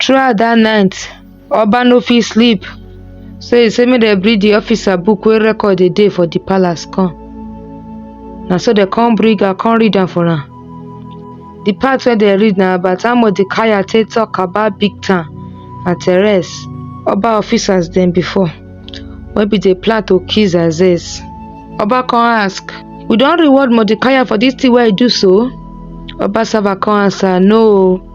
Throughout dat night, Oba no fit sleep so e say make dem bring di officer book wey record dey dey for di palace come. Na so dem come bring am come read am for am. Di part wey dem read na about how Mordecai take talk about Bigthan and Teres, Oba officers dem before wey bin dey plan to kill Xerxes. Oba come ask, We don reward Mordecai for dis thing wey e do so? Oba servant come answer, No o.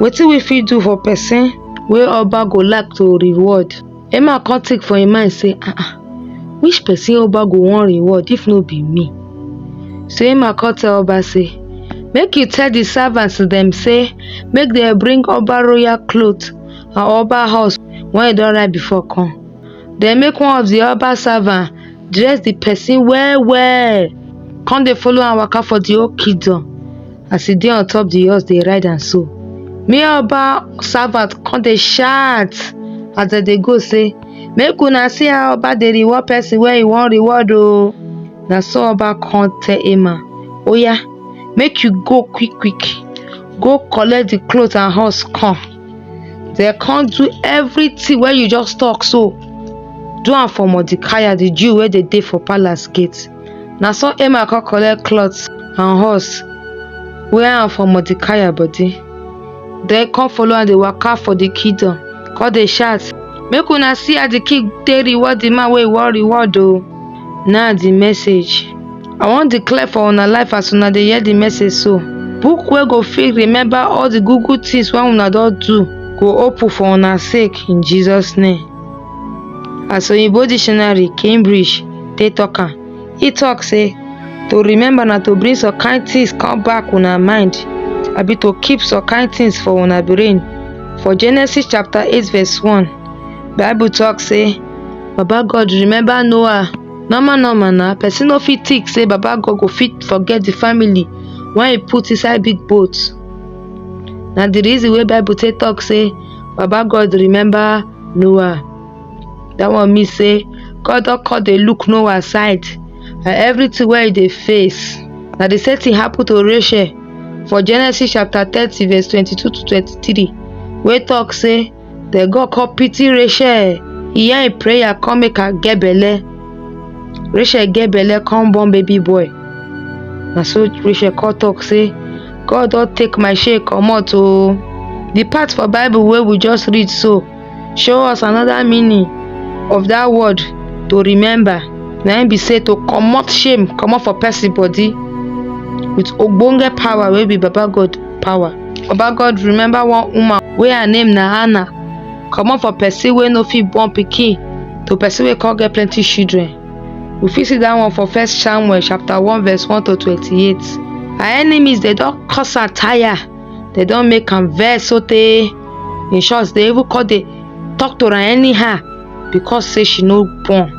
Wetin we fit do for person wey Oba go like to reward? Emma come think for im mind say, ah ah, which person Oba go wan reward if no be me? So Emma come tell Oba say, make you tell the servants dem say make dem bring Oba royal cloth and Oba house when he don write before come. Then make one of the Oba servant dress the person well well, come dey follow am waka for the whole kingdom. as e dey on top the horse dey ride am so me and Oba servant come dey shout as dem dey go say make una see how Oba dey reward person wey he wan reward o na so Oba come tell Emma oya make you go quick quick go collect the cloth and horse come dem come do everything wey you just talk so do am for Mordecai the Jew wey dey dey for palace gate Na so Emma come collect cloth and horse, wear am for Mordecai body, then come follow am dey waka for the kingdom, come dey shout, Make una see how the king take reward the man wey he wan reward o. Now the message. I wan declare for una life as una dey hear the message so, book wey go fit remember all the good good things wey una don do go open for una sake in Jesus name. As Oyinbo dictionary, Cambridge, take talk am, e talk say to remember na to bring some kind things come back una mind abi to keep some kind things for una brain. For Genesis chapter 8 verse 1, Bible talk say Baba God remember Noah. Normal normal na person no fit think say Baba God go fit forget the family when he put inside big boat. Na the reason wey Bible take talk say baba God remember Noah. That one mean say God don come dey look Noah side and everything wey he dey face. Na the same thing happen to Rachel for Genesis chapter thirty verse twenty-two to twenty-three wey talk say the God come pity Rachel, he hear him prayer come make her get belle. Rachel get belle come born baby boy. Na so Rachel come talk say God don take my shame comot oh. The part for Bible wey we just read so show us another meaning of that word to remember. Na im be say to comot shame comot for person body with ogbonge power wey be Baba God power. Baba God remember one woman wey her name na Hannah comot for person wey no fit born pikin to person wey come get plenty children. We fit see dat one for first Samuel chapter one verse one to twenty-eight. Her enemies dey don cause am tire, dey don make am vex sotey in short dey even come dey talk to am anyhow because sey she no born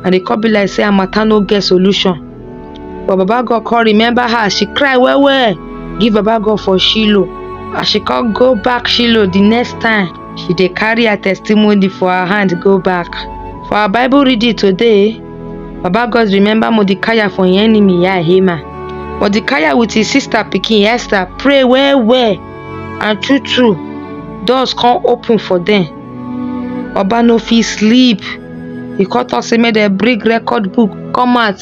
and e come be like sey her matter no get solution. But Baba God come remember her, she cry well well give Baba God for Shiloh. As she come go back Shiloh the next time, She dey carry her testimony for her hand go back. For our Bible reading today, Baba God remember Mordecai for im enemy Yah Haman. Mordecai with his sister pikin Esther pray well well and true true doors come open for them. Oba no fit sleep. He come talk say make dem bring record book come out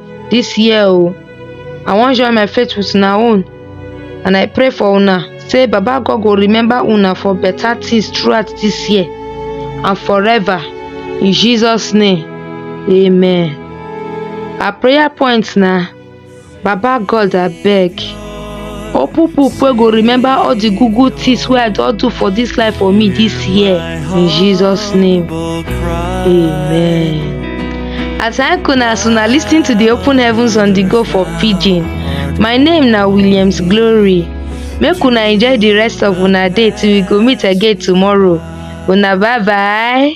this year o i wan join my faith with una own and i pray for una say baba god go remember una for better things throughout this year and forever in jesus name amen our prayer point na baba god abeg Or people wey go remember all the good good things wey I don do for this life for me this year. In Jesus' name. Amen. I thank una as una lis ten to the open heavens on the go for pidgin. My name na Williams Glory. Make una enjoy the rest of una day till we go meet again tomorrow. Una bye bye.